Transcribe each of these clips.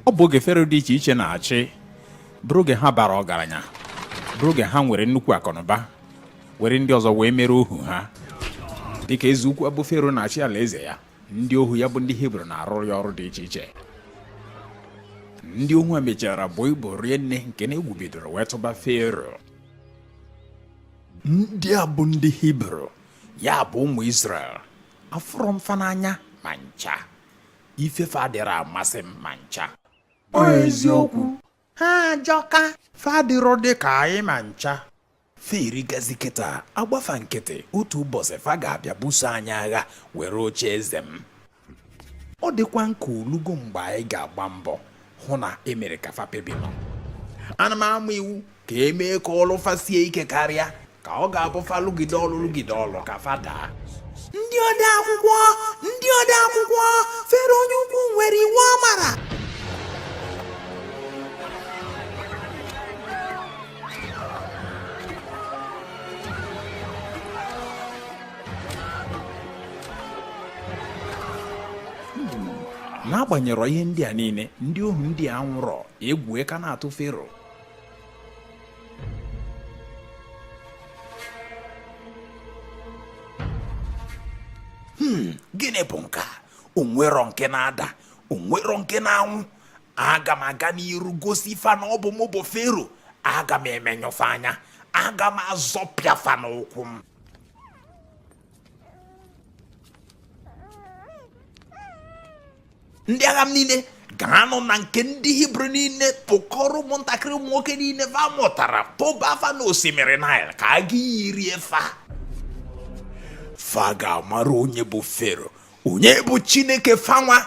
ọ bụ oge fero dị iche iche na-achị bụrụ oge ha bara ọgaranya bụrụ oge ha nwere nnukwu akụnụba were ndị ọzọ wee mere ohu ha dịka eze ukwu a bụ fero na-achị ala eze ya ndị ohu ya bụ ndị hibru na-arụrụ ya ọrụ dị iche iche ndị ohu a mechara buo ibu rie nne nke na egwu bidoro wee tụba fero ndị a bụ ndị hibru ya bụ ụmụ isrel afụrọ m fa n'anya ma ncha ife fa adịrọ amasị m ma ncha ọ eziokwu ha ajọka fa adịrọ dị ka anyị ma ncha fa erikazi kịta a gba fa nkịtị otu ụbọsị fa ga-abịa buso anyị agha were oche eze m ọ dịkwa m ka o lugo mgbe anyị ga-agba mbọ hụ na e mere ka fa pebinọ ana m ama iwu ka e mee ka ọlụ fa sie ike karịa ka ọ ga-abụ fa lụgide ọlụ lụgide ọlụ ka fa daa ndị ode akwụkwọ ndị ode akwụkwọ fero onye ukwu nwere iwu ọ mara n'agbanyerọ ihe ndị a niile ndị ohu ndị a anwụrọ egwu ka na-atụ fero hmm, gịnị bụ nke a o nwerọ nke na-ada o nwerọ nke na-anwụ aga m aga n'iru gosi fa na ọ bụ mụ bụ fero aga m emenyụ fa anya aga m azọpịa fa n'ụkwụ m ndị agha m niile gaanụ na nke ndị hibru niile kpọkọrọ ụmụntakịrị ụmụ nwoke niile fa mụtara tụba fa na osimiri nile ka agụ iyi rie fa fa ga-amara onye bụ fero onye bụ chineke fa nwa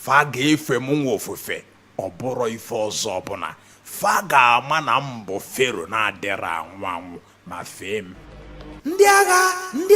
fa ga-efe m nwa ofufe ọ bụrọ ife ọzọ ọbụla fa ga-ama na m bụ fero na-adịrọ anwụ anwụ ma fee m ndị agha ndị